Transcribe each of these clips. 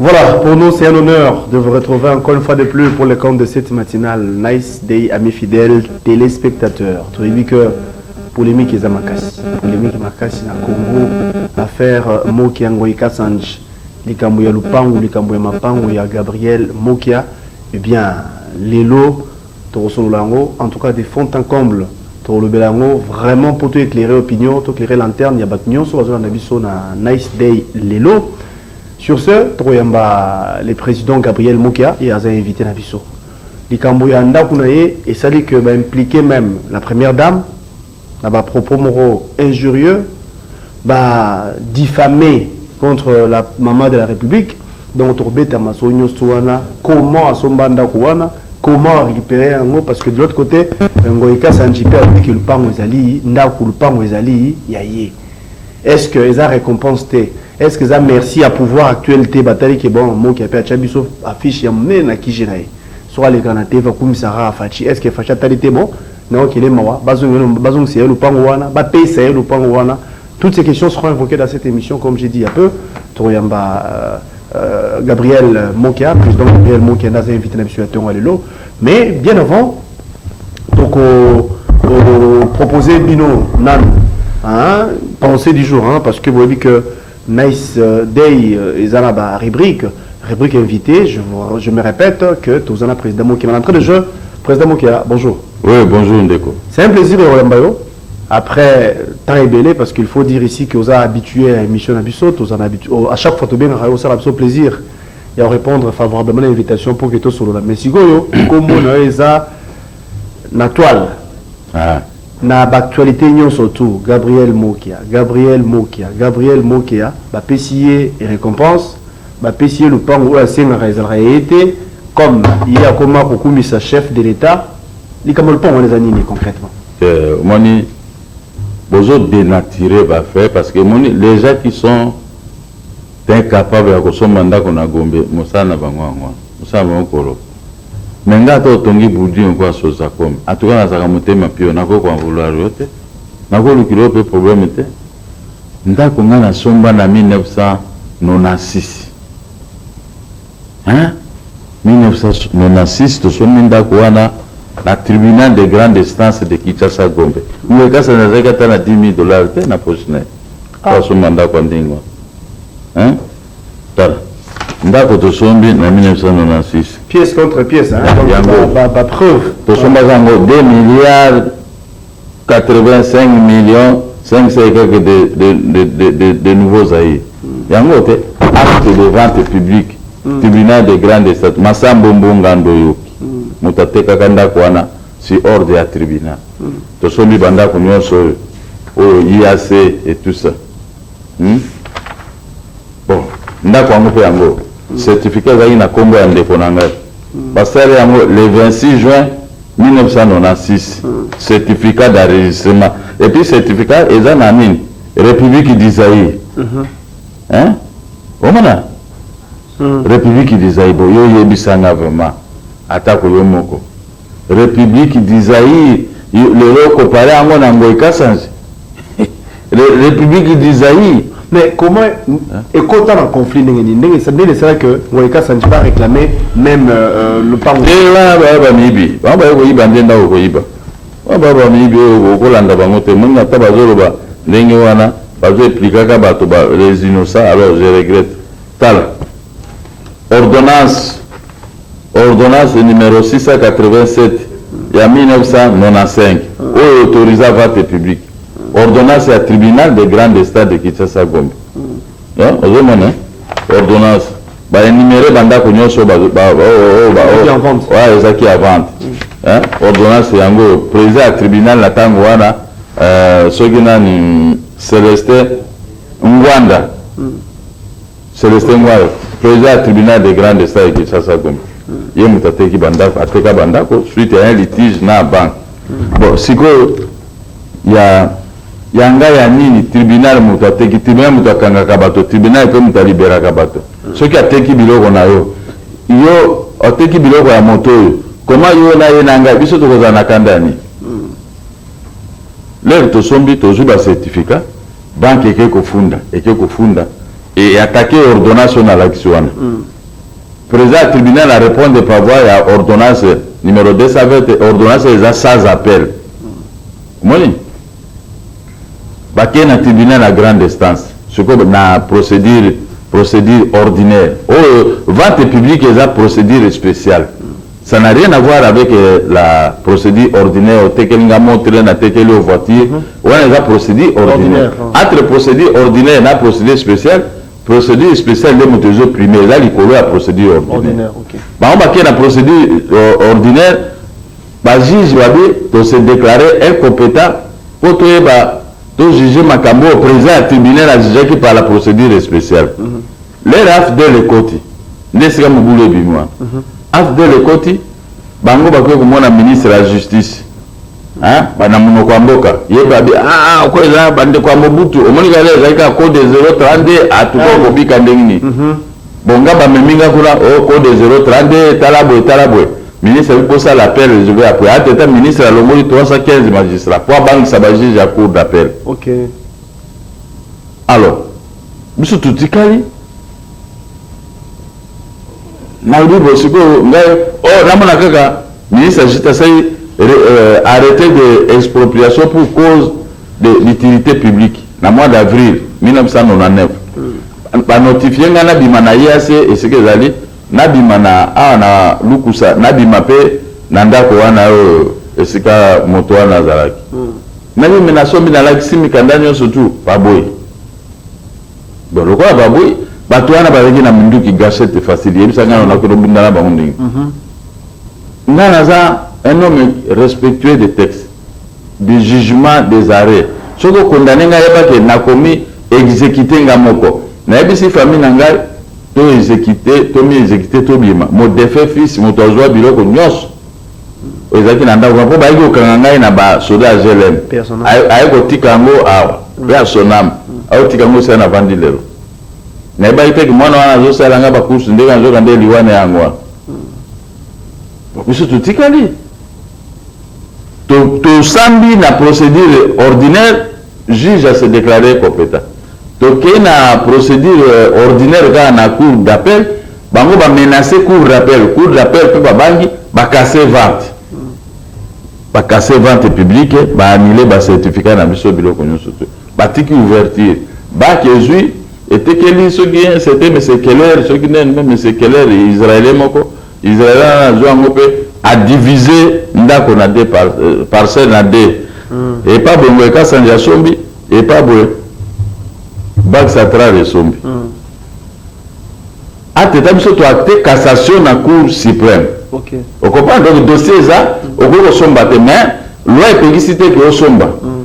Voilà, pour nous c'est un honneur de vous retrouver encore une fois de plus pour le compte de cette matinale. Nice day, amis fidèles, téléspectateurs. Tu as vu que polémique est à Makassi. Polémique Makassi na Congo, affaire euh, Moki Angoy Kassanj, likambo ya Lupangu, likambo ya Mapangu ya Gabriel Mokia. Eh bien, Lelo, Toko solola yango en tout cas de fond en comble. Toko lobela yango vraiment po to eclairer opinion, to eclairer lanterne ya batu nionso bazo landa biso na Nice Day lelo. Sur ce, toko yamba le president Gabriel Mukia, ye aza invite na biso. Likambo ya ndaku na ye esali que ba impliquer meme la première dame, na ba propos moko injurieux ba diffame contre la maman de la republique donc tokobeta masolo nyonso wana comment asomba ndako wana comment a récupérer yango parce que de l'autre côté euh, Ngoyi Kasanji pe alobi que lupango ezali ndako lupango ezali ya ye est-ce que eza récompense te est-ce que eza merci ya pouvoir actuel te batali ke bon moki ape atya biso affiche ya monene na kije na ye soki alekana te vakumisaka faci est-ce que faci atali te bon Non kele mawa bazongisa ye lopango wana bapesa ye lopango wana toutes ces questions seront invoquées dans cette émission comme j'ai dit il y a peu tokoyamba euh, euh, Gabriel Mokia président Gabriel Mokia naza invité na biso ya tonga lelo mais bien avant toko euh, proposer bino nanu hein, pensée du jour hein, parce que boyebi que Nice day eza na ba rubrique rubrique invité je, vous, je me répète que toza na président Mokema l'entrée de jeu président Mokema bonjour oui bonjour ndeko c'est un plaisir ya koyamba yo après temps ebele parce qu'il faut dire ici que oza habitué à émission na biso toza na habitué oh, à chaque fois tobengaka yo osala biso plaisir ya korépondre favorablement na invitation mpo ke tosolola mais sikoyo nkombo na yo eza na toile ah. Na b'actualites nionso tout Gabriel Mokia, Gabriel Mokia, Gabriel Mokia, bapesi ye recompense, bapesi ye lopango oyo asengaka ezalaka ya ye te, comme ye akoma kokumisa chef de l'Etat, likambo ya lopango wana eza nini concretement? Euh, omoni bozo denaturer ba faits parce que omoni les gens qui sont incapables ya kosomba ndako na Gombe mosala na bango yango wana, mosala na bango koloba. Mais nga ata otongi bulding lokola sozacom en tout cas nazalaka motema pio nakoki ko en vouloir yo te nako lukila yo pe probleme te ndaku nga na somba na 1996 hein 1996 tosombi ndaku wana na tribunal de grande instance de Kinshasa Gombe Ngoi Kasa nazalaki ata na 10000 dollars te na poche naye po asomba ndaku ya ndenge wana hein Tala ndako tosombi na 1996. Pièce contre pièce hein. Donc yango ba, ba preuve. Tosomba zango 2 milliards 85 millions 500 et quelques de, de, de, de, de, de nouveaux Zaïre. Mm. Yango te acte de vente publique. Mm. Tribunal de grande estate Masambo Mbonga Ndoyoki. Mm. Moto atekaka ndako wana si ordre ya tribunal. Mm. Tosombi bandako nyonso oyo oyo IAC et tout ça. Hum bon ndako yango pe yango certificat ezalaki na kombo ya ndeko na ngai basali yango le 26 juin 1996 certificat d'enregistrement et puis certificat eza na nini republiki du zaire hein omona republiki du zaire bo yo yebisa nga vraiment atako yo moko Republique du Zaïre lelo o comparer yango na Ngoy Kasanji? Republique du Zaïre. Mais comment ekota na conflit ndenge nini ndenge nini esala que Ngoy Kasanji ba réclamer même euh, euh le pango te wana ba ba mibi ba ba ko iba ndenda ko iba ba ba ba mibi o ko landa bango te mungu ata bazolo ba ndenge wana bazo expliquer ka bato ba les innocents alors je regrette tala Ordonnance, Ordonnance numero 687 ya 1995 oyo e autorisa vate publique. Ordonnance ya tribunal de grande instance de Kinshasa Gombe. Hein, ozomona hein? Ordonnance ba enumere ba ndako nyonso ba ba ba oh, oh, ba Ezalaki en vente. ouais ezalaki ya vente. Hein? Ordonnance yango oyo, président ya tribunal na tango wana euh, soki nani Celestin Ngwanda Celestin Ngwayo, president ya tribunal de grande instance ya Kinshasa Gombe, ye moto ateki bandako, ateka bandako suite ya un litige na banque. Bon, sikoyo ya ya ngai ya nini? Tribunal moto ateki, tribunal moto akangaka bato, tribunal pe moto a liberaka bato. Soki ateki biloko na yo, yo oteki biloko ya moto oyo, comment yo na ye na ngai biso tokozala na kanda ya nini? L'heure tosombi tozui ba certificat banque eke kofunda eke kofunda e attaque ordonnance oyo nalakisi wana president ya tribunal a repondre par voie ya ordonnance numero 220 te ordonnance eza sans appel omoni bakei na tribunal ya grande instance sikoyo na procedure procedure ordinaire oyo vente publique eza procedure speciale Ça n'a rien à voir avec la procédure ordinaire otekeli nga montre na tekeli yo voiture wana eza procédure ordinaire entre procédure ordinaire na procédure spéciale procédure spéciale nde moto ezo prime eza likolo ya procédure ordinaire bango bakei na procédure euh, ordinaire bajuge babi tose déclare incompétent mpo toyeba To juger makambo oyo president ya tribunal a jugeaki par la procedure speciale. Lere afdl ekoti, nde esika mobulu ebimi wana. Afdl ekoti, bango bakoki komona ministre ya justice, hein, ba na monoko ya mboka, ye pe abi, ah, ah, okoyo eza ba ndeko ya Mobutu, omoni kaka lere ezali kaka code 032, ah, tokoki kobika ndenge nini? Bon nga ba memi nga kuna oh code 032 tala boye tala boye ministre ayebi ko sala appel je vais appuyer entre temps ministre alongoli 315 magistrats po abangisa ba juges ya cour d'appel ok alors biso totikali nalobi bo sikoyo ngai o oh, namona kaka ministre agite asali euh, arrêté de expropriation pour cause de l'utilite publique na mois d'avril 1999 ba notifie nga nabima na IAC esika ezali nabima na awa na lukusa nabima pe na ndako wana oyo esika moto wana azalaki nabimi nasombi nalakisi mikanda nyonso tu baboyi donc lokola baboyi bato wana bazalaki na minduki gachette facile yebisa ngai nakoki nobunda na bango ndenge ngai naza un homme respectueux de texte du jugement des arrets soki o condamne ngai yeba ke nakomi execute ngai moko nayebisi famille na ngai to execute to mi execute tobima mon defunt fils mutu azua biloko nionso oyo ezalaki na ndaku ngai po bayaki kokanga ngai na ba soda ya GLM aye kotika yango awa pe ya sonam aotika yango esika navandi lelo nayebaki te ke mwana wana azosala ngai ba course ndenge nazoka nde liwa na yango wana biso totikali To tosambi na procedure ordinaire juge a se declarer competent. Tokei na procedure ordinaire kaka na cour d'appel bango ba menacer cour d'appel, cour d'appel pe babangi ba casser vente. Ba casser vente publique ba annuler ba certificats na biso biloko nionso tout. Batiki ouverture. Bac ezui etekeli soki un certain monsieur Keller soki nani meme monsieur Keller israelien moko. Israel wana azua yango pe a divise ndako na deux par, euh, parcelle na deux mm. epa boye ngoye kasanje asombi epa boye bak satral esombi mm. ateta biso toacte cassation na cour suprême okay. okomprendre donc dossier eza mm. okoki kosomba te mais loi epekisi te ke osomba mm.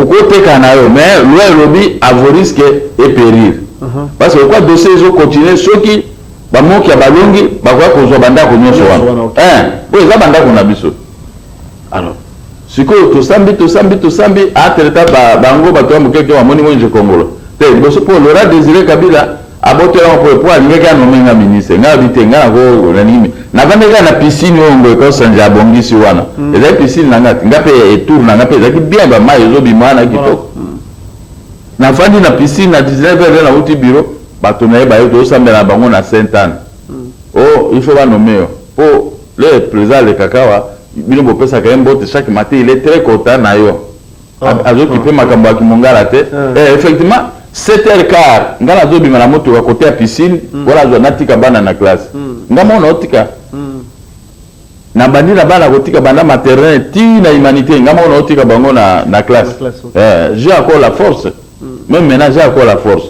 okoteka na yo mais loi elobi avoriske eperir uh -huh. parce que okwa dossier ezocontinue soki Ba moki ya balongi bakoya kozwa bandako nyonso wana eh, oyo eza bandako na biso alors sikoyo tosambi tosambi tosambi atreta ah, bango bato ya mokeke bamoni mwenje kongolo te liboso mpo lora désiré kabila abotelama mpo mpo alingaki anome nga ministre nga abi te nga nakolanimi navandaki kaka na piscine oyo ngoyo kaosanja abongisi wana hmm. ezali piscine na nga nga mpe etour na nga mpe ezalaki bien bamai ezobima wana kitoko Na fandi na piscine na 19 heures nde nawuti bureau bato naye baye tozo sambela na bango na sainte Anne oh il faut ba nomme yo po le president alekaka awa bino bo pesaka ye mbote chaque matin il est très content nayo azo kipe makambo ya kimongala te eh effectivement 7 heures quart nga nazo bima na motuka cote ya piscine po nazua natika bana na classe nga moko nao tika Na bandi na bana kotika banda maternelle ti na humanite nga moko na otika bango na na classe. Eh, j'ai encore la force. Hmm. Même maintenant j'ai encore la force.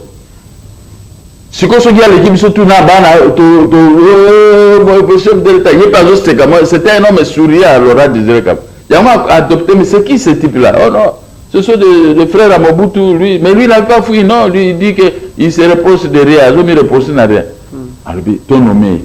Siko soki aleki biso tout na bana to to euh, chef de l'État yepe azo seka moi c'était un homme souriant à Laura Désiré Kabila. Yango adopté mais c'est qui ce type là? Oh non. Ce sont des, des frères à Mobutu, lui. Mais lui, il n'a pas fouillé, non. Lui, il dit qu'il se repose de rien. Il ne repose de rien. Hmm. Alors, ton nommé,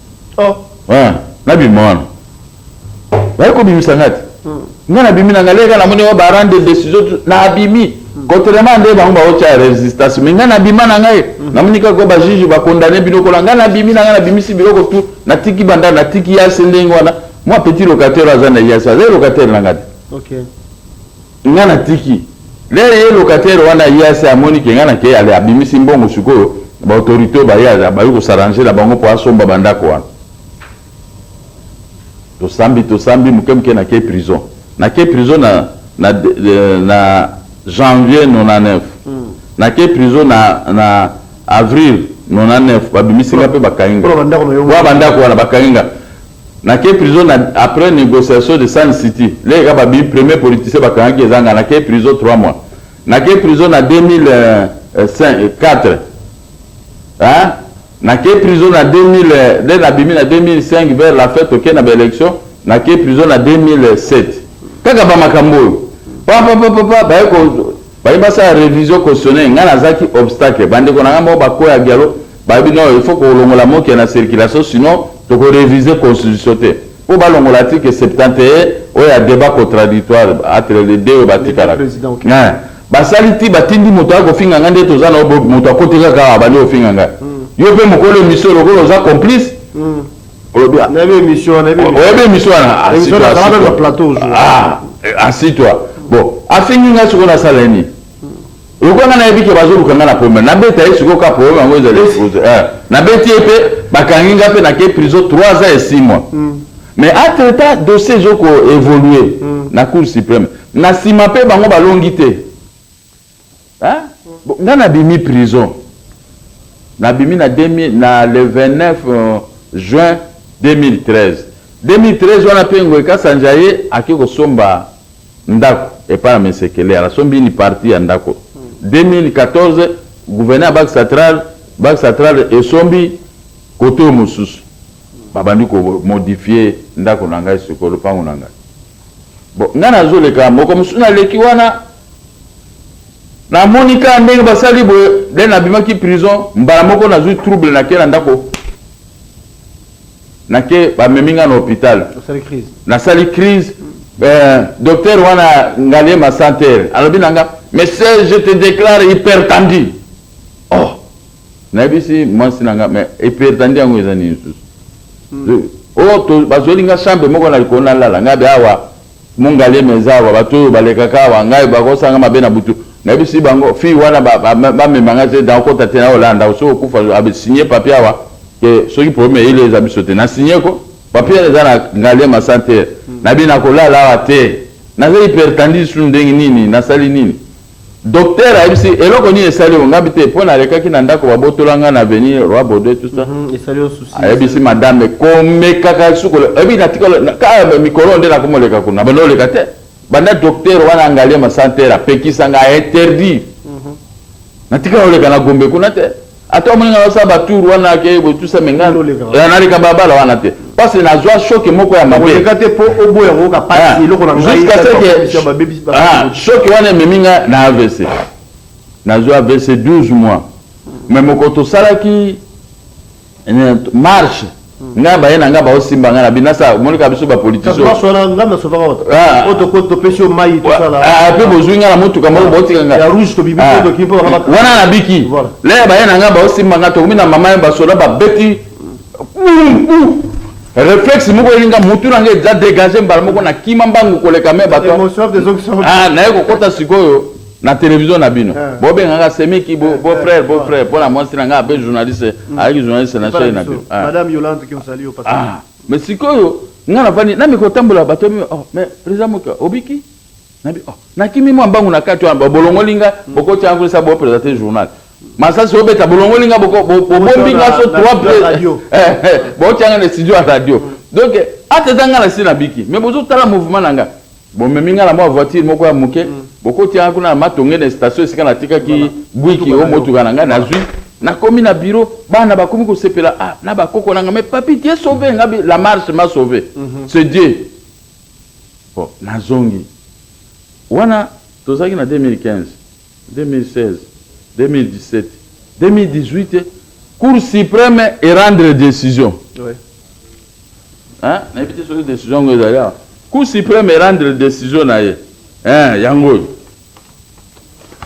oh ah na bima wana baye kobimisa nga te hmm. nga nabimi na nga leka namoni wa barande decision nabimi hmm. contrairement nde bango baotya resistance mais nga nabima na ngai hmm. namoni kaka bajuge bakondane bino kola nga nabimi na nga nabimisi biloko tu natiki banda natiki yase ndenge wana mwa petit locataire aza na yase aza locataire na nga te okay. Nga na tiki. Lele ye locataire wana ye asi amoni ke nga na ke ale abimisi mbongo sikoyo ba autorite oyo baye baye ko s'arranger na bango po asomba ba ndako wana. Tosambi tosambi muke muke na ke prison. Na ke prison na na na janvier 99. Na ke prison na na avril 99 ba bimisi nga pe ba kangi nga. Po na ba ndako wana ba kangi nga. Na ke prison na après negociation de sun city leke kaka ba bimi premier politicien ba kangaki eza nga na ke prison trois mois na ke prison na 2004 hein na ke prison na 2000 nde na bimi na 2005 vers la fête oke na ba election na ke prison na 2007 kaka ba makambo oyo papa papa papa baye ko baye basala revision cautionnaire nga nazaki obstacle bandeko na nga moko bakoya gialo Balobi non il faut kolongola mokia na circulation sinon toko reviser constitution te. Po balongola article 71 oyo ya debat contradictoire entre les deux oyo batikalaka. Eeh basali tii batindi moto aya kofinga ngai nde toza na yo bo moto akoti kaka awa abandi kofinga ngai. Yo pe mokolo emission lokola oza complice olobi ah. Nayebi emission wana. Oyebi emission wana? Emission na kala na plateau ozo. Ah assis toi. Bon afingi ngai sikoyo nasala ye nini? lokola nga nayebi ke bazoluka nga na problème nabeta ye sikoyo ka problème yango ezali expose eh, nabeti ye mpe bakangi nga mpe nakei prison 3 ans et 6 mois mm. mais entre temps dossier ezo ko évoluer mm. na cour suprême na nsima mpe bango balongi te nga nabimi prison nabimi na, na le 29 euh, juin 2013 2013 wana mpe ngoy kasanja ye ake kosomba ndaku epa ya mesekeler asombi ni parti ya ndaku 2014 gouvene ya bak satral bak satral esombi kote oyo mosusu babandi ko modifie ndaku na ngai siko lopangu na ngai bon ngai nazo leka moko mosusu na leki wana na moni ka ndenge basali boye dene abimaki prison mbala moko nazui trouble na ke na ndako Na ke ba memi nga na hopital. Na sali crise. Euh, docteur wana ngaliema santer alobi na nga monsieur je te declare hypertendu oh nayebisi mwasi na nga mais hypertendu yango eza nini susu hmm. o oh, bazweli nga chambre moko na likolo nalala nga be awa Mungaliema eza awa batu oyo balekaka awa ngai bakosanga mabe na butu nayebisi bango fille wana bamema ngai te nakokota te nayo landa osi okufa a signe papier awa ke soki problème ya ile eza biso te na signe ko papier eza na ngaliema santer nabi nakolala awa te naza hypertendise su ndenge nini nasali nini Docteur ayebisi eloko nini esali yo ngabi te mpo nalekaki na ndako babotola ngai na avenir roi baudouin tout ça mhm, ayebisi madame komekaka sukola oyebi natikala mikolo nde nakomoleka kuna banda oleka te banda docteur wana angalie masantere apekisa ngai ainterdire mhm. natikala oleka na gombe kuna te Ata omoni nga nasala ba tour wana ke botusa me nga naleka balabala wana te pasi nazwa shoke moko ya mabe shoke wana ememi nga na avc nazwa avc 12 mois me mokolo tosalaki marche nga baye na nga bao simba nga na bino nasa monika biso ba politician ah, ah, pe bozwi nga na motuka moko botika nga ah, wana na biki lere baye na nga bao simba nga tokomi na mama ya basoda babeti reflexe moko elinga mutu na nga eza degage mbala moko na kima mbangu koleka me bato naye kokota sikoyo na television na bino eh. bobengaka semiki beau eh, eh, frère beau frère mpo na mwasi na ngai ape journaliste mm. ayaki journaliste na shei na bino ah. mais sikoyo ngai navandi na mikotambola bato yabi oh, mais président moke obiki nabi oh, nakimi mwa mbangu na kati wana bolongoli ngai mm. bokoti yango esa bopresente journal masasi obeta bolongoli ngai bobombi ngai so trois bokoti yanga na studio ya radio mm. donc ata eza ngai na si nabiki mais bozotala mouvement na ngai Bomemi nga na mwa voiture moko ya moke, bokoti yanga kuna na Matonge na station esika natikaki buiki o motuka na ngai, nazui, nakomi na bureau, bana bakomi kosepela ah na ba koko nanga, mais papy tu es sauve, nga bi, la marche m'a sauve, c'est Dieu. Bon, nazongi, wana tozalaki na 2015. 2016, 2017, 2018 cour supreme e rendre decision oui. hein? nayebi te soki decision yango ezali awa cour supreme e rendre decision na ye hein, yango oyo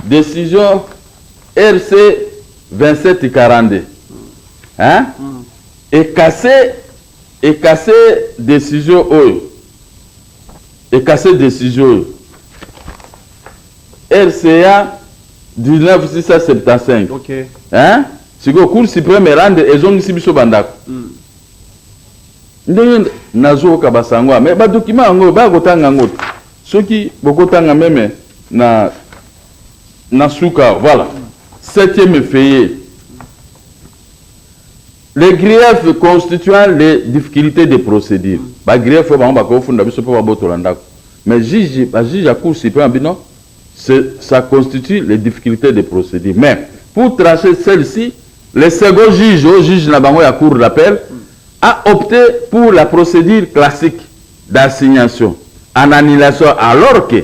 decision rc 2742 hein? mm. ekase ekase decision oyo Ekase decision oyo RCA 19675. Ok. Hein? Sikoyo Cour supreme erande ezongisi biso ba ndako. Ndenge nazoyoka basango ya mais ba document yango oyo baya kotanga yango te. Soki bokotanga meme na na suka awa, voilà. Septième effeuillet. Les griefs constituant les difficultes de procedure. Ba griefs oyo bango ba ko funda biso po ba botola ndaku. Mais juge, ba juges ya cour supreme bino, ce, ça constitue les difficultes de procedure. Mais, pour trancher celle-ci, le second juge oyo juge na bango ya cour d'appel a opte pour la procedure classique d'assignation en annulation alors que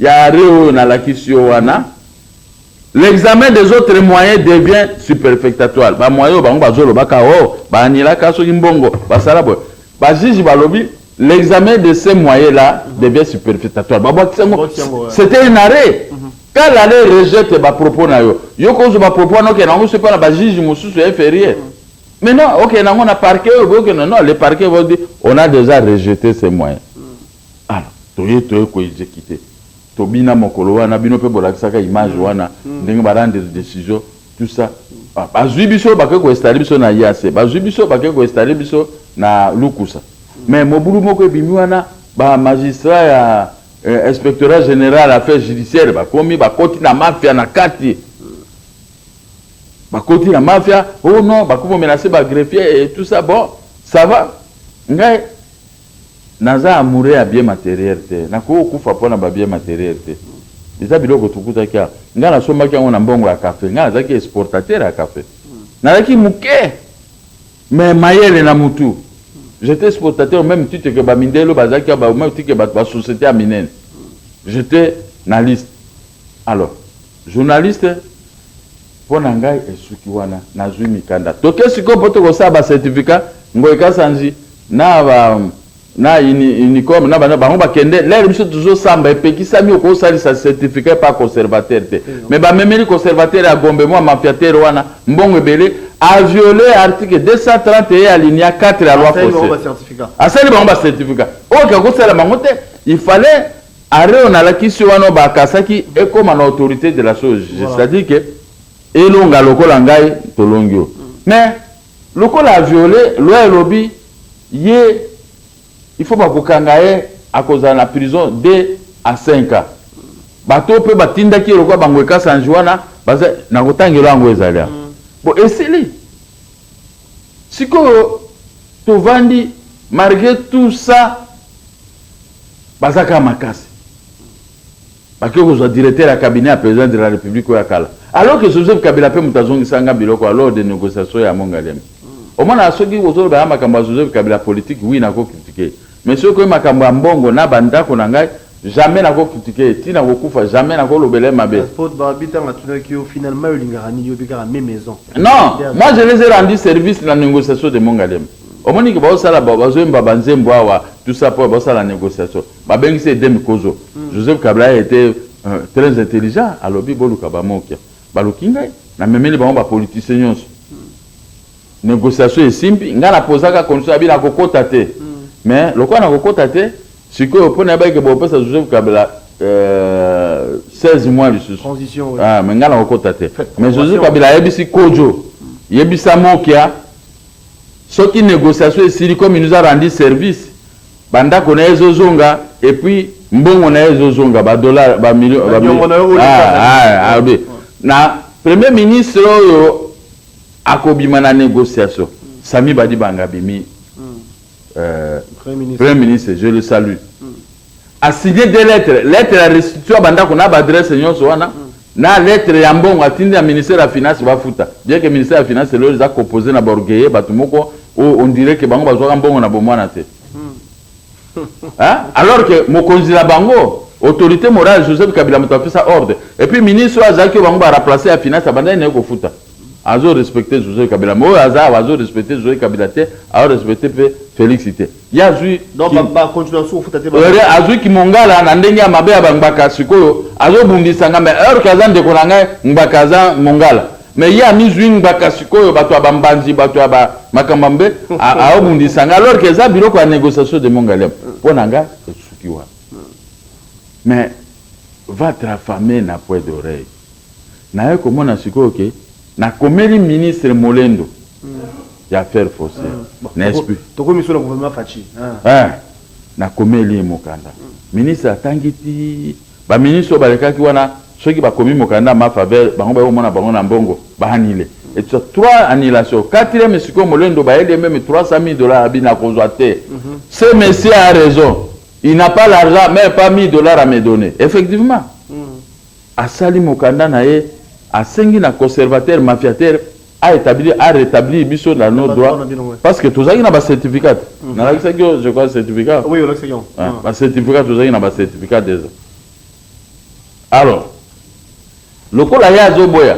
Ya arret oyo nalakisi yo wana, l'examen des autres moyens devient superfectatoire. Ba moyens oyo bango bazo loba ka oh ba annula ka soki mbongo ba sala boye. Ba juges ba lobi l'examen de ces moyens là devient superfectatoire. Ba bwakisi yango. C'était un arret. Quand l'arrêt rejette ba propos na yo, yo ko zo ba propos wana okenda yango soki na ba juges mosusu ya inferieur. Mais non, okenda yango na parquet oyo boke na non, le parquet va dire on a déjà rejeté ces moyens. Ala toye toye ko execute tobina mokolo wana bino pe bolakisaka image wana ndenge ba rendre decision tout ça ah bazui biso bake ko installer biso na IAC bazui biso bake ko installer biso na lukusa mais mobulu moko ebimi wana ba magistrat ya eh, inspectorat general affaires judiciaires bakomi bakoti na mafia na kati bakoti na mafia oh non bakomi menacer ba greffier et tout ça bon ça va ngai Naza amoureux ya bien materiel te nakoki kokufa pona ba bien materiel te eza biloko tukutaki awa nga nasombaki yango na mbongo ya cafe nga nazalaki exportateur ya cafe nazalaki muke mais mayele na mutu j'etais exportateur au meme titre que ba mindelo bazalaki awa au meme titre que ba societe ya minene j'etais na liste alors Journaliste pona ngai esuki wana nazui mikanda toke sikoyo po toko sala ba certificat ngoy kasanji na ba na unicom na bana bango bakende lere biso tuzo samba epekisami oko salisa certificat epa conservateur te mais ba memeli conservateur ya gombe mwa mafiateur wana mbongo ebele a viole article 230 eye alinia 4 ya loi fosse asali bango ba certificat oyo kako sala bango te il fallait Arret on alakisi wana o bakasaki ekoma na autorite de la chose jugee c'est à dire que elonga lokola ngai tolongi yo mais lokola a viole loi elobi ye il faut bakokanga ye akozala na prison de a 5 ans bato oyo pe batindaki ye lokola bango ekasanji wana baza nakotangelo yango ezali awa bo esili sikoyo tovandi malgre tout ça Baza kaka makasi. Bakoki kozwa directeur ya cabinet ya president de la republique oyo ya kala. Alors que Joseph Kabila mpe moto azongisaka nga biloko ya lors des negociations ya Mont Ngaliema. Omonaka soki ozoloba ya makambo ya Joseph Kabila politique, oui nako critiquer ye. Mais soki ekomi makambo ya mbongo na ba ndako na ngai, jamais nako critiquer ye. Ti nakokufa, jamais nako lobela ye mabe. Passport Barbie tango atunaki yo finalement yo olingaka nini yo mpe kaka meme maison. Non, moi je les ai rendu service na negociation de Mont Ngaliema. Omoni ke bazo sala bazo yemba ba nzembo awa tout ça po bazo sala negociation ba bengisi ye Edem Kozo Joseph Kabila a ete très intelligent alobi boluka ba Mokia baluki ngai na memeli bango ba politiciens nionso negociation esimbi ngai na posa ka condition abi na kokota te mais lokola na kokota te sikoyo po nayebaki ke bopesa Joseph Kabila euh, 16 mois lisusu Transition, oui. ah, mais ngai na kokota te Faites mais Joseph convention. Kabila ayebisi Kojo yebisa Mokia Soki negociation esili comme il nous a rendu service ba ndako naye ezo zonga et puis mbongo naye ezo zonga ba dollars ba millions ba millions na premier ministre oyo akobima na negociation Sami Badibanga abimi euh, premier ministre je le salue A signer deux lettres, lettre ya restitution ya ba ndako na ba adresses nionso wana na lettre ya mbongo atindi na ministère ya finances bafuta. Bien que ministère ya finances lelo eza composer na ba orgueilleux, batu moko oyo on dirait que bango bazuaka mbongo na bomwana te. Hein? Alors que mokonzi na bango autorite morale Joseph Kabila moto apesa ordre. Et puis ministre oyo azalaki oyo bango ba remplacer ya finances abandaki na ye kofuta. azo respecte Jose Kabila mais oyo aza awa azo respecte Jose Kabila te azo respecte pe Felix te ye azwi azwi kimongala na ndenge ya mabe ya bangbaka sikoyo azobundisa ngai mais heure ke aza ndeko na ngai ngbaka aza mongala mais ye amizwi ngbaka sikoyo bato ya bambanzi bato ya makambo ya mbe aobundisa ngai alors ke eza biloko ya négociation de mongaliam mpo na ngai esuki wana mais votre fame na poids d'oreille Naye komona sikoyo que nakomeli ministre molendo ya affaires foncières n'est-ce plus? Tokomi solo gouvernement Fatshi eeh nakomeli ye mokanda ministre atangi tii ba ministre oyo balekaki wana soki bakomi mokanda ma faveur bango baye komona bango na mbongo ba annule et tout ça trois annulations quatrième sikoyo molendo bayeli ye meme 300 milles dollars abi nakozwa te ce monsieur a raison il n'a pas l'argent meme pas 1000 dollars à me donner effectivement Asali mokanda na ye, asengi na conservateur mafiateur a etablir, a retablir biso na nos droits parce que tozalaki na ba certificats te. Nalakisaki yo je crois certificat? Oui, olakisaki yango. Eh, ba certificats tozalaki na ba certificats deja. Alors, lokola ye azoboya,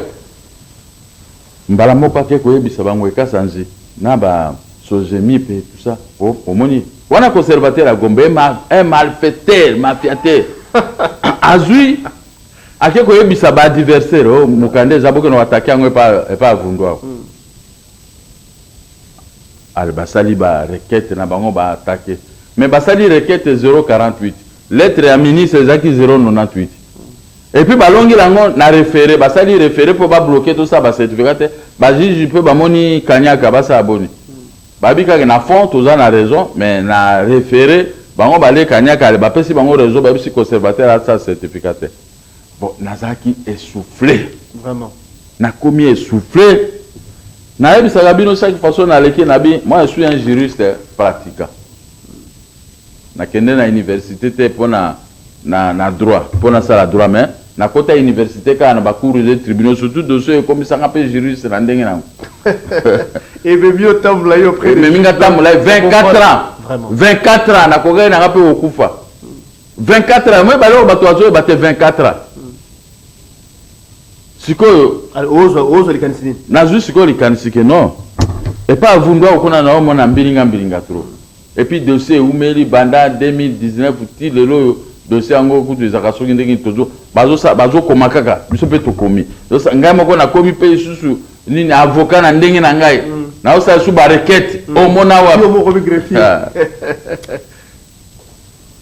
Mbala moko ake koyebisa ba Ngoy Kasanzi na ba Sozemipe et tout ça po omoni wana conservateur ya Gombe un malfaiteur mafiateur azui ake koyebisa ba adversaire oh mokanda eza bokende ko attaquer yango epa epa Avundu awa al basali ba requete na bango ba attaquer mais basali requete 048 Lettre ya ministre ezalaki 098 et puis balongela yango na refere, basali refere mpo ba bloquer tosala ba certificat te, ba juge mpe bamoni kaniaka basala boni? Bayebi kaka na fond toza na raison mais na refere bango balie kaniaka bapesi bango raison bayebisi conservateur asala certificat te. Bon nazalaki essouffle, vraiment nakomi essouffle, nayebisaka bino chaque façon naleki nabi moi je suis un juriste pratiquant. Na kende na universite te pona na na droit po na sala droit mais na kota universite kaka na ba cours de tribunaux surtout dossier oyo ekomisa nga pe juriste na ndenge nango Ememi yo otambola yo près des ememi nga tribunaux tambola ye 24 ans Vraiment. 24 ans na kokaki na nga pe kokufa 24 ans moi bale oyo bato bazo yeba te 24 ans sikoyo Alors, ozwa ozwa likanisi nini nazwi sikoyo likanisi ke non epa avundu ako kuna na omona mbilinga mbilinga trop Et puis dossier ewumeli banda 2019 ti lelo oyo dossier yango kutu ezalaka soki ndenge nini tozo bazo sala bazo koma kaka biso pe tokomi ezosa ngai moko nakomi pe lisusu nini avocat na ndenge na ngai nazo sala lisusu ba requete omona wapi Yo moko bi greffier. Ah.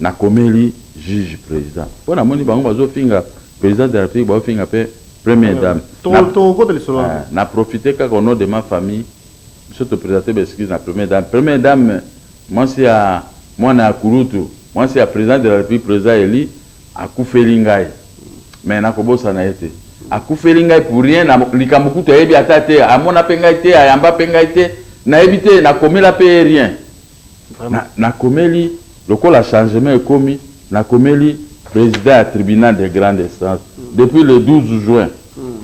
nakomeli juge president po namoni bango bazo finga president de la republique bazo finga pe première dame Toko- Na- tokokota lisolo wana. Ah, na profite kaka au nom de ma famille Biso to presenter ba excuses na première dame, première dame mwasi ya mwana ya kulutu, mwasi ya president de la Republique, president elu, akufeli ngai mais nako bosana ye te. Akufeli ngai pour rien, na likambo kutu ayebi ata te, amona pe ngai te, ayamba pe ngai te, nayebi te, na komela pe ye rien. Na, na komeli lokola changement ekomi, na komeli president ya tribunal de grande instance depuis le 12 juin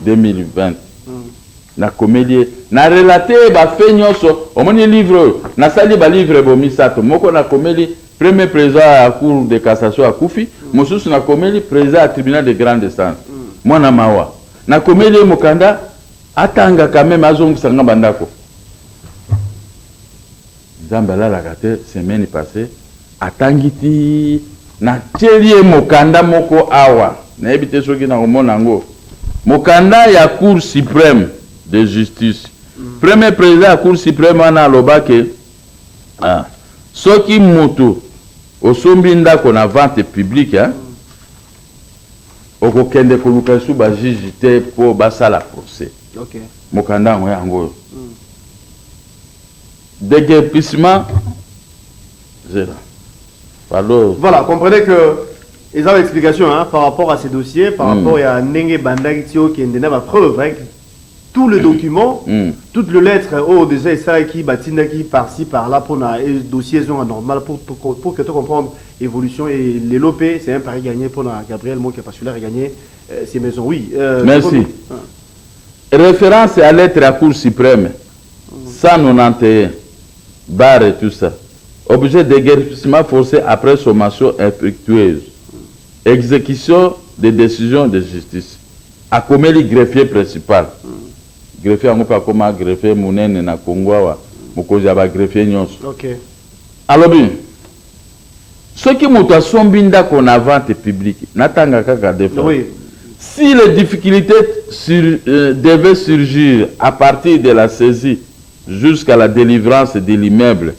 2020. Na komeli ye, na relater ye ba faits nionso, omoni livre oyo, na sali ba livres bo misato, moko na komeli Premier President ya Cour de cassation akufi, mosusu na komeli President ya Tribunal de grande instance. Muana mawa. Na komeli ye mokanda, atanga quand meme, azongisa nga ba ndako. Nzambe alalaka te semaine passe atangi ti na tieli ye mokanda moko awa nayebi te soki na komona yango mokanda ya cour supreme de justice premier president ya cour supreme wana aloba ke ah, soki mutu osombi ndako na vente publique hein, okokende koluka esu ba juge te po basala procès okay. mokanda yango yango oyo mm. Deguerpissement zela pardon. Voilà comprenez que eza ba explication hein, par rapport à ce dossier par mm. rapport ya ndenge ebandaki ti okende na ba preuve hein, tout le document mm. toute le lettre oyo oh, déjà esalaki batindaki par ci par là mpona e dossier ezonga normal pour, pour, pour que to comprendre évolution et lelo mpe c'est un pari gagné mpona gabriel moke parce qu'il a regagné euh, ses maisons oui euh, merci ah. référence ya lettre ya cour suprême 191 bar et tout ça objet deguerpissement force après sommation infructueuse execution de decision de justice akomeli greffier principal greffier yango pe akoma greffier munene na congo awa mokonzi ya ba greffier nionso alobi Soki moto asombi ndako na vente publique, natanga kaka deux fois. Oui. Si les difficultes sur, euh, devaient surgir à partir de la saisie jusqu'à la delivrance de l'immeuble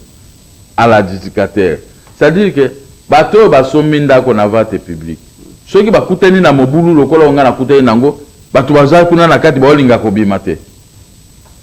à l'adjudicateur, c'est-à-dire que bato oyo basombi ndako na vente publique, soki bakutani na mobulu lokola oyo ngai nakutani na yango, bato baza kuna na kati baolinga kobima te.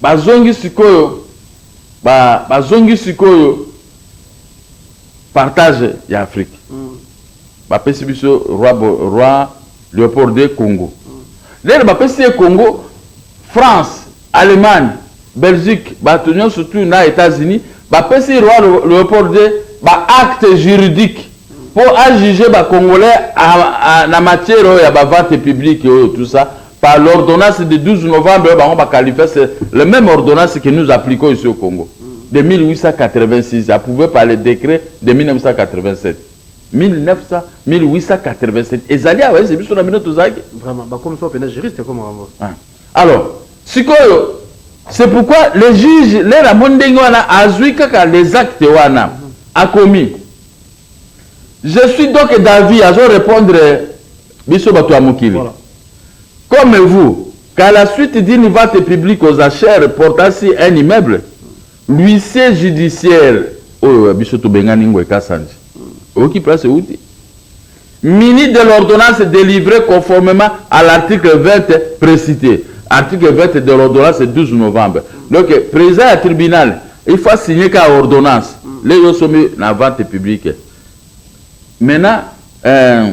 Bazongi sikoyo ba bazongi sikoyo partage ya Afrique bapesi biso roi roi Leopold de Congo lelo bapesi ye Congo France Allemagne Belgique bato nyonso tu na Etats-Unis bapesi roi Leopold de ba acte juridique mpo a juge ba congolais na matière oyo ya ba vente publique oyo tout ça Par l'ordonnance de 12 novembre oyo bango ba qualifia, c'est le meme ordonnance que nous appliquons ici au Congo de 1886 approuve par le decret de 1987. 1900 1887 ezali awa ese biso na bino tozalaki vraiment bakomi so pena juriste ekoma bango ah. alors sikoyo c'est pourquoi le juge lere amoni ndenge wana azwi kaka les actes wana akomi je suis donc davi azo répondre Biso batu ya mokili comme vous qu'à la suite d'une vente publique aux achères portant sur un immeuble, l'huissier judiciaire oyo ya biso tobengani Ngwe Kasanji, oyoki place ewuti? muni de l'ordonnance delivree conformement à l'article 20 precite, article 20 de l'ordonnance 12 novembre, donc president ya tribunal il faut a signer kaka ordonnance lelo osombi na vente publique maintenant euh,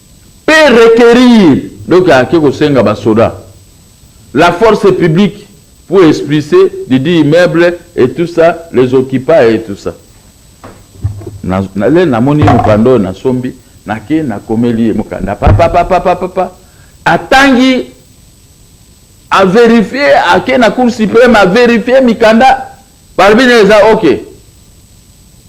pe requerir donc ake kosenga ba soda la force publique pour expulse didi immeuble et tout ça les occupa et tout ça na le na moni mokanda oyo na sombi na ke na komeli ye mokanda papa papa papa papa atangi a verifier ake na cour supreme a verifier mikanda Balobi na eza ok.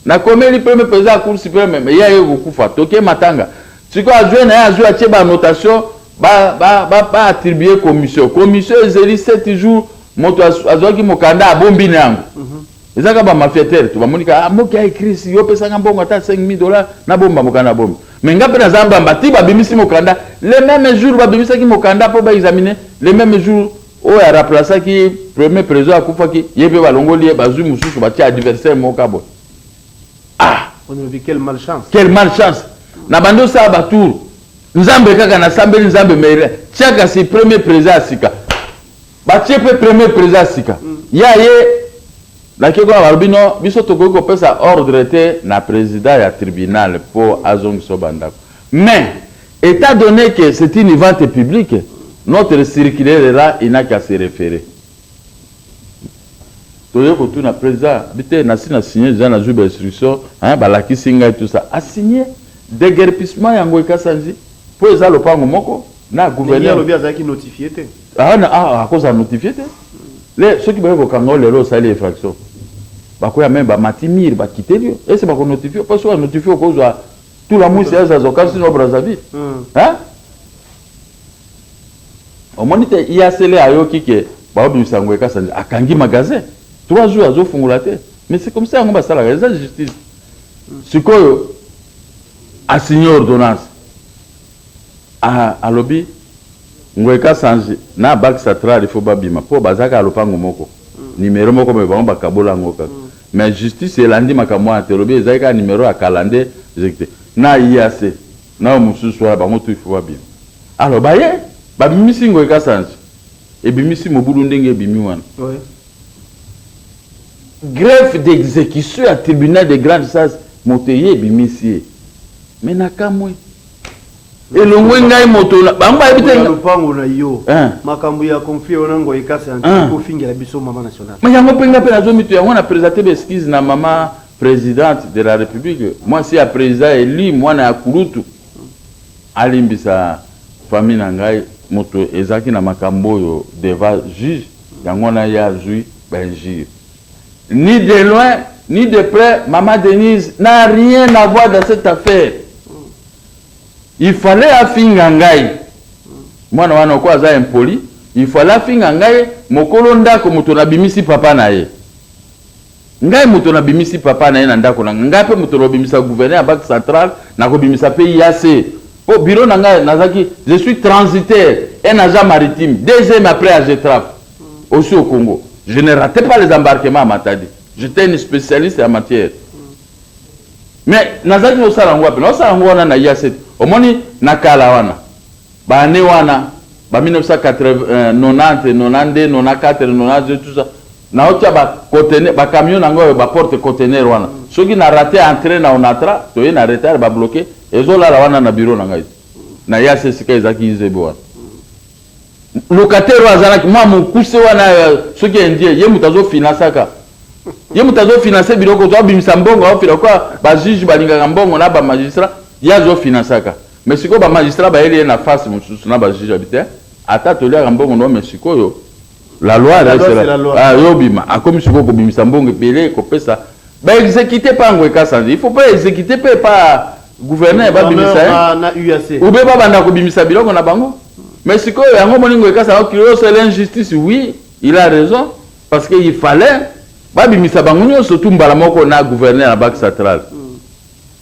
Na komeli premier president ya cour supreme mais ye aye kokufa toke matanga. Sikoyo azwe na ye azwe atie ba notation ba ba ba ba attribuer commission. Commission ezeli 7 jours moto azwaki mokanda abombi na yango. Mm -hmm. Eza ka ba mafiateur to bamoni ka ah, moki a écrit si yo pesanga mbongo ata 5000 dollars na bomba mokanda bombi. Mais nga pe naza mbamba ti babimisi mokanda le même jour babimisaki mokanda po ba examiner le même jour Oyo a raplasaki premier president akufaki ye pe balongoli ye bazui mususu batia adversaire moko ka boye ah Olobi quelle malchance. quelle malchance na bando sala ba tour nzambe kaka na sambeli nzambe mais tia kasi premier president ya sika batie pe premier president ya sika ye aye na keko na balobi non biso tokoki kopesa ordre te na president ya tribunal po azongisa yo ba ndako Mais, etat donne que c'est une vente publique, notre circulaire là, il n'a qu'à se referer. Toye kotuna president, bi te, nasi na signer dejà, nazui ba instructions, hein, balakisi ngai tout ça. A signer deguerpissement ya Ngoy Kasanji mpo eza lopango moko na gouverneur. Mais ye alobi azalaki notifier te. Ah, akozala notifier te. Le, soki baye kokanga yo lelo osali infraction, bakoya meme bamati mur, bakiteli yo. Est-ce que bako notifier yo? Mpo soki ba notifier yo, okozwa Tulamuisi aza azwa kasi no Brazzaville. Hmm. Hein? Omoni te Iasele ayoki ke baobimisa yango ekasa akangi magasin. Trois jours azofungola te. Mais c'est comme ça yango basalaka eza justice. Hmm. Sikoyo asigne ordonnance Ahh alobi ngoy kasanji n'a bac satral il faut ba bima po baza kaka lopango moko numero moko mais bango ba kabola yango kaka mais justice elandi makambo wana te elobi ezali kaka numero ya kala nde ezalaki te n'a IAC nayo mosusu wana bango tout il faut ba bima alors baye ba bimisi ngoy kasanji ebimisi mobulu ndenge ebimi wana. Greffe d'execution ya tribunal de grande instance moto eye ebimisi ye mais nakamwe. elongwe ngai moto na bango bayebi te lopango na yo eh. makambo ya conflit wana ngo ekasi ya eh. kofingela biso mama national mais yango mpe ngai mpe nazo mito yango na présente ba excuse na mama présidente de la république mwasi ya président élu mwana ya kulutu alimbisa famille na ngai moto ezalaki na makambo oyo devant juge yango wana ye azwi bainjure Ni de loin ni de près maman Denise n'a rien à voir dans cette affaire. Il fallait afinga ngai. Mwana wana ko aza impoli, il fallait afinga ngai mokolo ndako moto na bimisi papa na ye. Ngai moto na bimisi papa na ye na ndako na ngai pe moto na bimisa gouverneur ya banque centrale na ko bimisa pe IAC. Po bureau na ngai nazaki je suis transitaire un agent maritime deuxième après Agetraf. Aussi au Congo, je ne ratais pas les embarquements à Matadi. J'étais une spécialiste en matière. Mais nazalaki kosala yango wapi? Naosala yango wana na IACT. Omoni na kala wana ba année wana ba 1980, 90, 92, 94, 92 tout ça naotia ba conteneur ba camion nango oyo ba porte conteneur wana soki na rate entrée na Onatra toye na retard ba bloquer ezolala wana na bureau na ngai na IACT sika ezalaki IZB wana Locataire oyo azalaki mwa mokuse wana soki indien ye moto azo finansaka ye moto azo finanse biloko to abimisa mbongo aofina kwa ba juge balingaka mbongo na ba magistrat ye azo finansaka mais sikoyo ba magistrat bayeli ye na face mosusu na ba juge abi te ata toliaka mbongo no mais sikoyo La loi La reste loi, la- c'est la loi. Ah, yo bima akomi sikoyo kobimisa mbongo ebele kopesa baexekite mpe yango ekasanje il faut mpe exekite mpe epa gouverneur babimisa ye Na- na UAC. ube babanda kobimisa biloko na bango mais sikoyo yango moningo ekasanga kilo c'est l'injustice oui il a raison parce que il fallait babimisa bango nyonso tu mbala moko na gouverneur ya banque centrale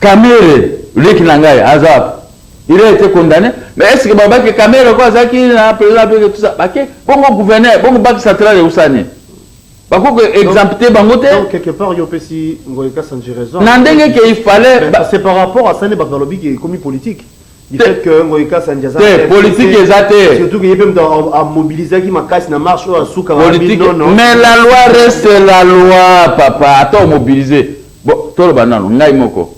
Kamere leki na ngai aza wapi? Il a été condamne mais est-ce que ba baki Kamere ko azaki na président pe tout ça baki bongo gouverneur bongo baki central ya usani bako ko exempter bango te donc quelque part yo pesi ngoy kasanji raison na ndenge ke il fallait ba... c'est par rapport à ça ne baka lobi ke komi politique du fait que ngoy kasanji aza te politique eza te surtout que ye pe mto a mobiliser ki makasi na marche oyo asuka politique non non mais la loi reste la loi papa attends mobiliser Bo toloba nanu ngai moko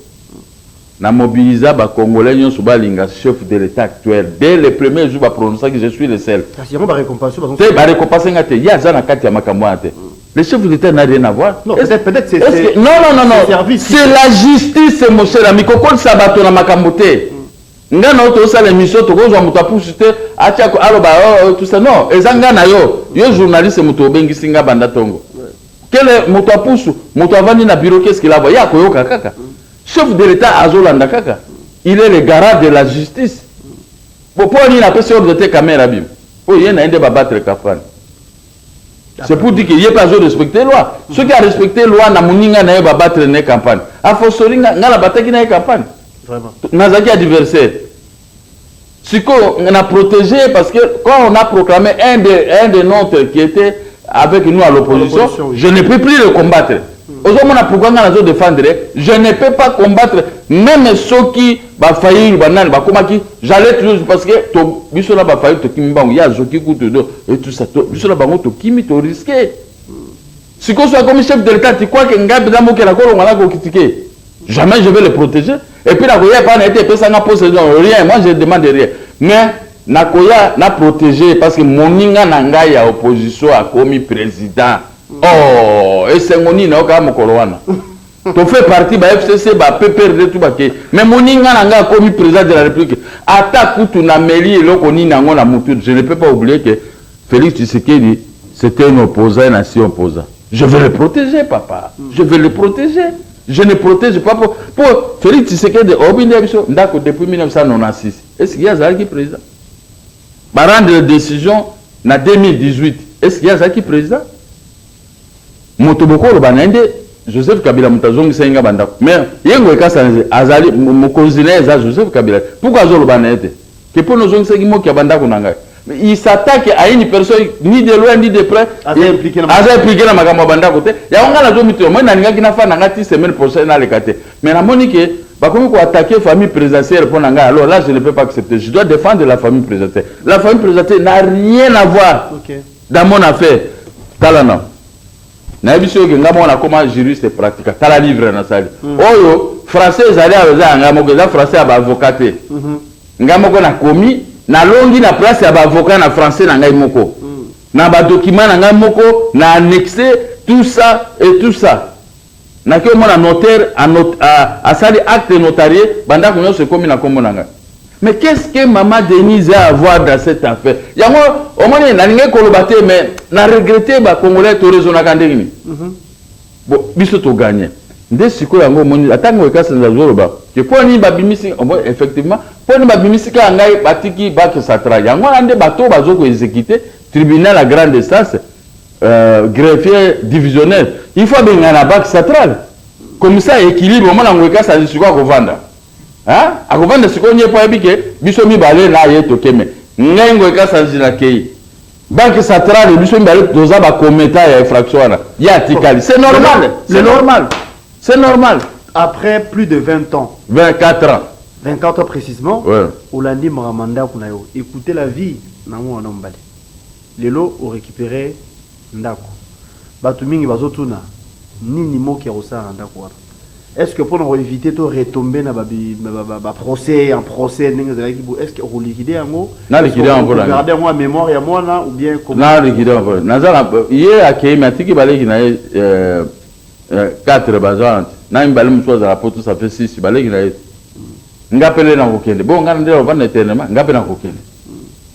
na mobilisa ba congolais nionso ba linga chef de l'etat actuel dès le premier jour ba prononcaki je suis le seul Kasi yango ba recompense bazo te ba recompense nga te ye aza na kati ya makambo wana te le chef de l'etat n'a rien à voir non peut-être peut-être c'est que non non non non c'est la justice c'est mon cher ami kokolisa bato na makambo te nga na yo tozosala émission tokozwa moto apusu te atia aloba oh, oh, tout ça non eza nga na yo yo journaliste moto obengisi nga banda tongo Kele moto ya pusu, moto avandi na bureau qu'est-ce qu'il a voir? Ye akoyoka kaka. Chef de l'etat azolanda kaka. Il est le garant de la justice. Bon, po nini apesi ordre te Kamere abima? Po ye na ye nde ba battre kafrani. C'est pour dire que ye pe azo respecter loi. Soki a respecter loi na moninga na ye ba battre na ye campagne. A fortiori nga, nga na bataki na ye campagne. Vraiment. Nazalaki adversaire. Sikoyo na proteger ye parce que quand on a proclamé un de un de notre qui était avec nous à l'opposition, je ne peux plus le combattre. Hmm. Ozomona pourquoi nga nazo défendre, je ne peux pas combattre même ceux qui ba faillir ba nani ba komaki, j'allais toujours parce que to biso na ba faillir to kimi bango ya zoki kutu do et tout ça to biso na bango to kimi to risquer. Sikoyo soki akomi chef de l'etat, tu crois que ngai mpenza mokeli akolonga na kokitike? Jamais je vais le proteger. Et puis nakoya epai na ye te epesa nga poste rien, moi je demande rien. Mais nakoya na proteger parce que moninga na ngai ya opposition akomi president. Oh, esengo nini nayoka ya mokolo wana. To fait partie ba FCC, ba PPRD tout ba ke. Mais moninga na ngai akomi president de la République. Ata kutu na meli eloko nini yango na mutu, je ne peux pas oublier que Felix tshisekedi c'est un opposant un ancien opposant je vais le proteger papa je vais le proteger je ne protège pas pour, pour Felix Tshisekedi oyebi nde biso ndako depuis 1996 est-ce qu'il y a azalaki président ba rendre décision na 2018 est-ce qu'il y a azalaki président Moto bokoloba naye nde Joseph Kabila moto azongisaki nga ba ndaku mais ye ngoy kasanzi azali mokonzi naye eza Joseph Kabila te pourquoi azo loba naye te que pona ozongisaki moki ya ba ndaku na ngai mais il s'attaque à une personne ni de loin ni de près aza implique na makambo ya ba ndaku te yango nga nazo mituna moi nalingaki na fana nga ti semaine prochaine naleka te mais namoni que bakomi ko attaquer famille présidentielle pona ngai alors là je ne peux pas accepter je dois défendre la famille présidentielle la famille présidentielle n'a rien à voir okay. Dans mon affaire, tala na nayebisi yo ke nga moko nakoma juriste pratica tala livre nasali mm. oyo français ezali awa eza ya ngai moko eza français ya baavocat te mm -hmm. ngai moko nakomi nalongi na place ya baavocat na français na ngai moko mm. na badokima na ngai moko na annexe tout ça et tout ça Nake omona notaire a not a asali acte notarie ba ndaku nionso ekomi na kombo na nga mais qu'est ce que maman Denise a avoir dans cette affaire yango omoni na lingi koloba te mais na regrette ba congolais to raisonaka ndenge nini mm -hmm. bo biso to gagne nde sikoyo yango omoni ata ngo ekasa nazoloba ke mpo nini babimisi omoni effectivement mpo nini babimisi kaka ngai batiki bakisatra yango wana nde bato bazo ko exekite tribunal ya grande instance Euh, greffier divisionnaire il faut abengana banque centrale komisa équilibre omona yango ekasani sikoyo akovanda akovanda sikoyo nye mpo ayebi ke biso mibale na ye tokeme ngai ngo ekasanzi nakei banque centrale biso mibale toza bakometa ya infraction wana ye atikali c'est normal c'est normal c'est normal après plus de 20 ans 24 ans 24 ans précisément ouais. olandi makambo ndako na yo écoutez la vie na mwana mobali Lelo o recuperer ndaku batu mingi bazo tuna nini Moki akosala na ndaku wana est ce que pona ko eviter to retomber na ba ba procès en procès ndenge ezalaki boye est ce que oko liquider yango na liquider yango pona nini garder yango en memoire ya mwana ou bien comment na liquider yango pona naza na ye akeyi mais atiki ba leki na ye euh 4 baza wana te na mibale mususu azala poto ça fait 6 ba leki na ye Nga pele nakokende bongo nga nde nakovanda eternellement nga pe nakokende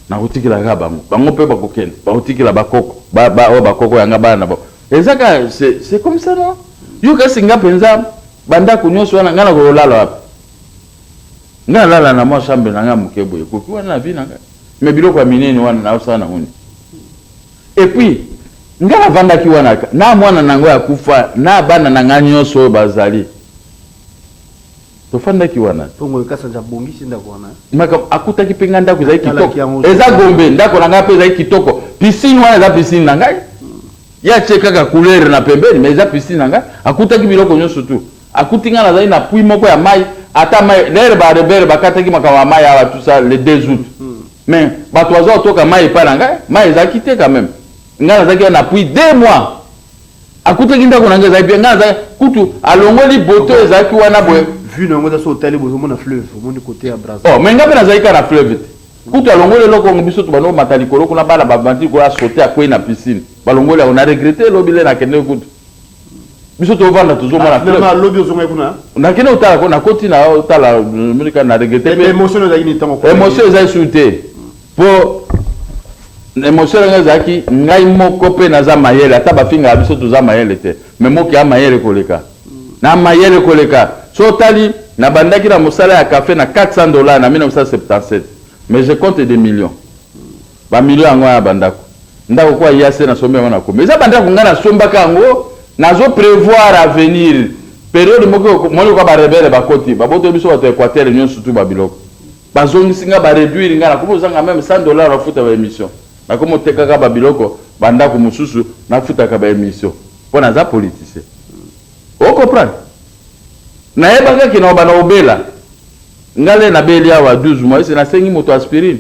nakotikela kaka bango bango pe bakokende bakotikela bakoko ba, ba, oyo bakoko yanga bana na bango eza ka c'est comme ça non yo kasi nga mpenza bandako nyonso wana nga nakololala wapi nga nalala na mwa chambre na nga moke boye ekoki wana na vie na nga me biloko ya minene wana naosala nango nini epuis nga navandaki wana na mwana na yango ya kufa na bana na ngai nyonso oyo bazali tofandaki wana tongo ekasanja abongisi ndako wana maka akutaki mpe ngai ndako ezali kitoko eza gombe ndako na ngai mpe ezali kitoko piscine wana eza piscine na ngai ye atie kaka couleur na pembeni mais eza piscine na ngai akutaki biloko nyonso tu akuti ngai nazali na pui moko ya mai ata mai lere barebele bakataki makambo ya mai awa tout ça le 2 août hmm. mais bato baza kotoka mai epai na ngai mai ezalaki te quand même ngai nazalaki na pui deux mois Akutaki ndako na ngai ezali bien, ngai nazali kutu alongoli boto ezalaki wana boye. Vue na yango eza so otali bozo mona fleuve, omoni kote ya Brazza. Oh, mais ngai mpe nazali kaka na fleuve te. Kutu alongoli eloko yango biso tobanda komata likolo kuna bana bavandi likolo asote akwei na piscine. Balongoli yango na regrette lobi le nakendeki kutu. Biso tovanda tozomona ah, fleuve. Ah, lobi ozongaki kuna? Nakende kotala ko nakoti na tala na regrette. Emotion ezalaki ni tango. Emotion ezali su te. Po na emotion na ngai ezalaki ngai moko pe naza mayele ata ba fingaka biso toza mayele te mais moki ya mayele koleka na mayele koleka so otali na bandaki na mosala ya cafe na 400 dollars na 1977 mais je compte des millions ba millions yango ya bandako ndako kwa yase na sombi yango na kombi eza bandako ngai na sombaka yango nazo prevoir avenir periode moki moni kwa ba rebelle bakoti babotoli biso bato ya equateur nionso tu ba biloko Ba zongisi nga ba reduire nga nakomi kozanga meme 100 dollars na futa ba emission nakomi otekaka ba biloko ba ndaku mususu na futaka ba emission po naza politicien o comprendre nayebaka ke nakobanda kobela nga le nabeli awa 12 mois ese nasengi moto aspirine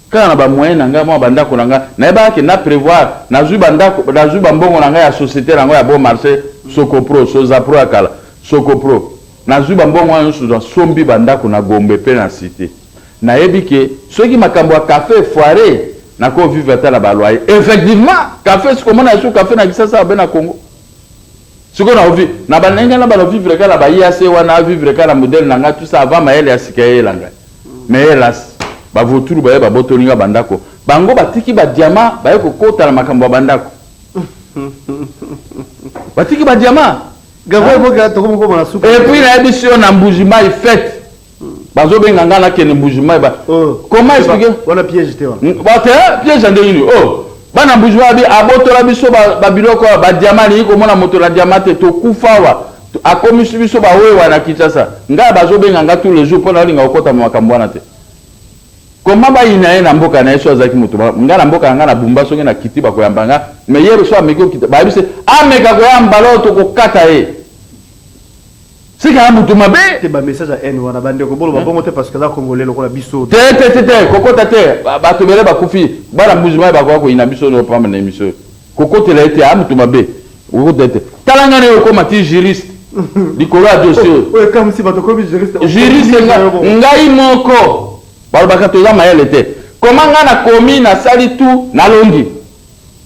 Kaka na ba moyens na nga, mua ba ndako na nga, nayebaka que na prevoir, nazui ba ndako, nazui ba mbongo na nga ya societe na ngo ya bon marche, Socopro, Sozapro ya kala, Socopro, nazui ba mbongo wana nionso, na sombi ba ndako na Gombe pe na Cite. Nayebi que soki makambo ya cafe e foirer, nako vivre ata na ba loyers. Effectivement! Cafe, sikoyo omona lisusu cafe na Kisasa obe na Congo? Sikoyo nako vivre, na ba ndenge na bana vivre kaka na ba IAC wana, a vivre kaka na modèle na nga, tout ça avant mayele ya sika eyela ngai. Mais helas, ba vautours baye babotoli nga ba ndako, bango batiki ba diamants baye kokota na makambo ya ba ndako. Batiki ba diamants. Gabriel Boga tokomi koma na suka. Et puis nayebisi yo na Mbuji Mayi fete. Bazo benga nga nakende Mbuji Mayi ba. Oh. Comment expliquer? Wana piège te wana. Ba te piège ndenge nini? Oh. Bana Mbuji Mayi abotola biso ba biloko ba diamants ni komona moto na diamant te tokufa wa. Akomisi biso ba wewa na Kinshasa. Nga bazo benga nga tous les jours pona olinga kokota mu makambo wana te. Comment ba yina ye na mboka na ye so azaki moto ba nga na mboka na nga na bumba soki na kiti bako yamba nga mais ye so ameki okita ba yebise ameka ko yamba lo to ko kata ye. Sika ya moto mabe. Te ba message ya haine wana ba ndeko bolo ba bongo te parce que za congolais lokola biso. Te te te te kokota te bato bele bakufi bana mbuzi mayi bakoya koyina biso no pamba na emission. Kokotela ye te aa moto mabe okokota ye te tala nga nayo okoma ti juriste likolo ya dossier oyo oyo ekamwisi bato okomi juriste okomi juriste nini nga- nayo bongo ngai moko balobaka toza mayele te koma nga nakomi nasali tout nalongi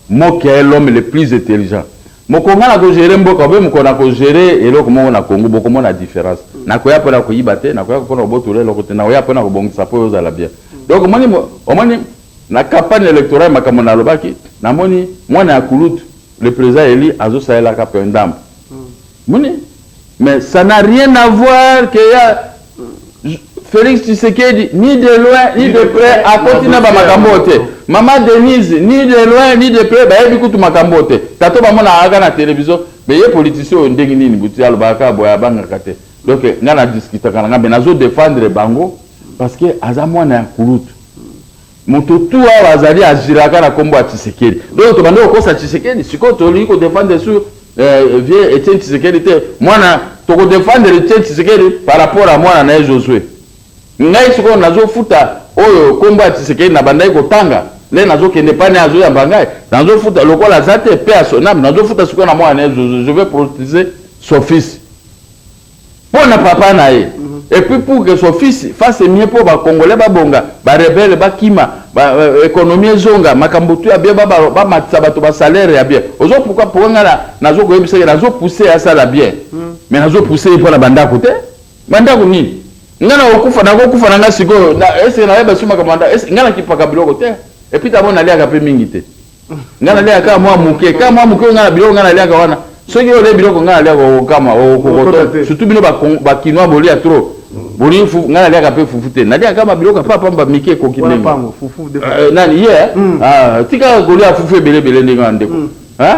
mokia ye l'homme le plus intelligent moko nga nako gere mboka obe moko nako gere eloko moko na congo bokomona difference nakoya pona koyiba te nakoya pona kobotola eloko te nakoya pona kobongisa po ozala bien donc omoni mo- omoni Na campagne electorale makambo na lobaki na moni mwana ya kulutu le president elu azo salela ka pe ndambu moni mais ça n'a rien à voir que ya Felix Tshisekedi ni de loin ni de près akoti na ba makambo te maman Denise ni de loin ni de près bayebi kutu makambo te tata ba mona aka na television mais ye politicien oyo ndenge nini butu alobaka boye abangaka te Donc nga na discutaka na nga mais nazo defendre bango parce que aza mwana ya kulutu. Moto tout awa azali agiraka na kombo ya Tshisekedi. Donc tobandi kokosa Tshisekedi sikoyo tolingi ko defendre sur euh, vieux Etienne Tshisekedi te. Mwana toko defendre Etienne Tshisekedi par rapport à mwana na ye Josue. Ngai sikoyo nazo futa oyo kombo ya tshisekedi na bandaki kotanga nde nazo kende epai naye azo yamba ngai nazo futa lokola aza te paix à son ame nazo futa sikoyo na mwana naye zozo je vais proteger son fils pona papa naye et puis pour que son fils fasse mieux po ba congolais ba bonga ba rebelle ba kima ba euh, economie ezonga makambo tu ya bien ba ba- ba matisa bato ba salaire ya bien ozo pourquoi pourquoi ngai na- nazo koyebisa ye nazo pousser asala bien mais nazo pousser ye pona bandako te Ba ndaku nini? Nga nako kufa nako kufa na nga sikoyo na ese na yeba suma kamanda ese nga na kipaka biloko te et puis tabo na liaka pe mingi te nga na liaka kaka mwa muke kaka mwa muke nga na biloko nga na liaka wana soki yo le biloko nga na liaka okama okokoto surtout bino ba ba kinois bolia trop boni fu nga na liaka pe fufu te na liaka kama biloko pa pamba mike koki ndenge pango fufu de euh, nani ye yeah. mm. ah tika kolia fufu ebele ebele ndenge ndeko mm. hein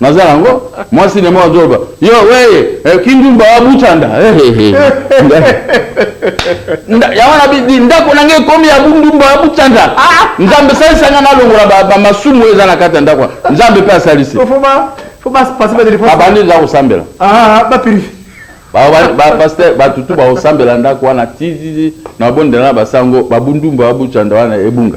Naza nango mwasi na mwa zoba. Yo weye eh, kindumba wa butanda. Ya wana bidi ndako na ngai ekomi ya bundumba wa butanda. Ah! Nzambe salisa nga nalongola ba, ba masumu eza na kati ya ndako. Nzambe pe asalisi. Babandi nza kosambela. Ah, ba purifi. Pasteur bato tu bakosambela ndako wana ti na bondela na basango babundumba babucanda wana ebunga.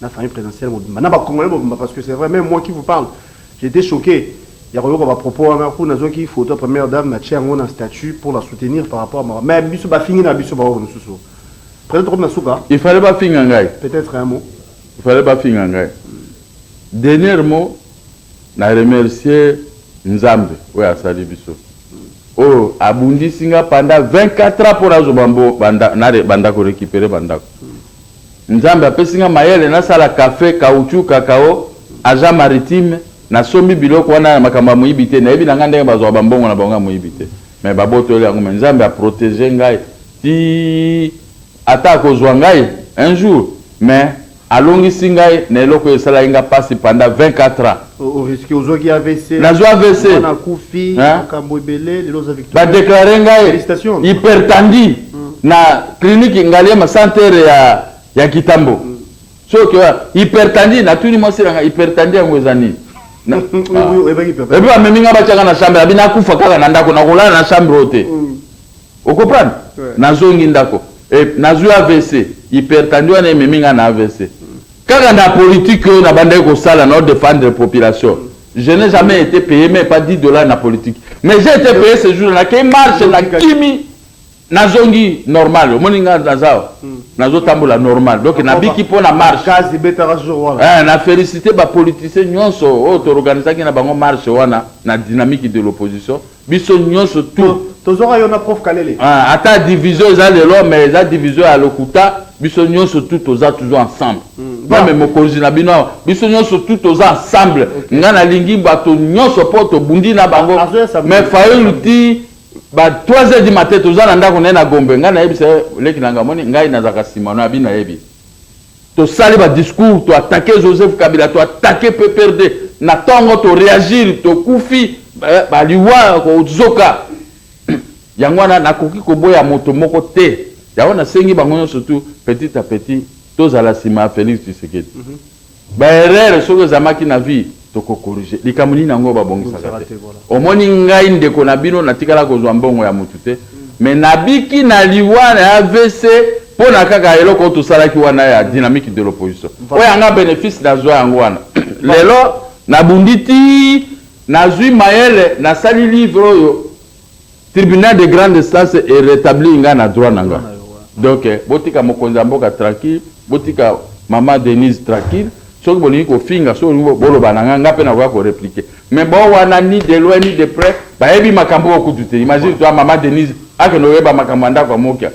na famille présidentielle mobimba na ba congolais mobimba parce que c'est vrai même moi qui vous parle j'étais choqué ya koyoka ba propos wana ku nazwaki photo ya première dame na tia yango na statut pour la soutenir par rapport à mais biso bafingi na biso baoyo mosusu peut-être comme na suka il fallait bafinga ngai peut-être un mot il fallait bafinga ngai dernier mot na remercier nzambe oyo asali biso oyo abundisi nga pendant 24 ans mpo nazo banda korécupere bandako Nzambe apesi nga mayele na sala cafe, caoutchouc, cacao, agent maritime, na sombi biloko wana ya makambo ya moyibi te, nayebi na nga ndenge bazwaka ba mbongo na bango ya moyibi te mais ba botoli yango mais Nzambe a proteger ngai tii ata akozwa ngai un jour mais alongisi ngai na eloko oyo esalaki nga pasi pendant 24 ans. O risque ozwaki AVC. Nazwa AVC. Mwana akufi, Hein? makambo ebele, lelo oza victoire. ba declare ngai Félicitations. hypertendi na clinique ngaliema centre ya ya kitambo soki oya hypertendi natuni mwasi na ngai hypertendi yango eza nini Na- Ah. Oui, oyebaki papa. epuis bamemi ngai batyaka na chambre abi nakufa kaka na ndako nakolala na chambre oyo te Mm. okoprendre Ouais. nazongi ndako Eh, nazwi avc hypertendi wana ememi ngai na avc Kaka na politique oyo nabandaki kosala nao defendre population. Je n'ai jamais été payé mais pas 10 dollars na politique. Mais j'ai été payé ce jour na ke marche na kimi nazongi normal omoni nga naza hmm. nazotambola normal donc nabiki mpo na marche eh, na félicité bapoliticien nyonso oyo toorganisaki na bango marche wana na dynamique de l'opposition Biso nionso tout. Tozuaka yo na prof kalele. Ah ata division eza lelo mais eza division ya lokuta biso nionso tout toza toujours ensemble Ba. meme mokonzi na bino awa biso nionso tout toza ensemble nga na lingi bato nionso po tobundi na bango Azo ya samedi. mais fayulu ti ba 3 heures du matin toza na ndako na ye na gombe nga nayebisa ye leki na nga moni ngai nazalaka sima no abi nayebi To sali ba discours to attaque Joseph Kabila to attaque PPRD na tongo to reagir to kufi ba liwa ko zoka yango wana na koki ko boya moto moko te yango na sengi bango nionso tout petit à petit to zala sima ya Felix Tshisekedi mm -hmm. ba erreur soki ezamaki na vie Toko corriger. Likambo nini yango ba bongisaka te? Omoni ngai ndeko na bino na tikala kozua mbongo ya mutu te mais na biki na liwa na avc pona kaka eloko oyo tosalaki wana ya dynamique de l'opposition. Oyo ya nga benefice na zua yango wana lelo na bundi tii na zui mayele na sali livre oyo. Tribunal de grande instance e retablir nga na droit na nga. Donc botika mokonzi ya mboka tranquille, botika maman Denise tranquille. Soki bolingi kofinga, soki bolingi boloba na nga, nga pe nakoya ko repliquer. Mais bo wana ni de loin ni de près bayebi makambo oyo kutu te. Imagine toi maman Denise akende koyeba makambo ya ndako ya Mokia.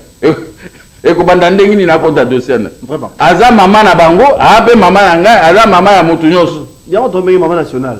Ekobanda ndenge nini akota dossier na ye? Aza maman na bango, aa pe maman na ngai, aza maman ya mutu nionso. Yango tobengi maman nationale.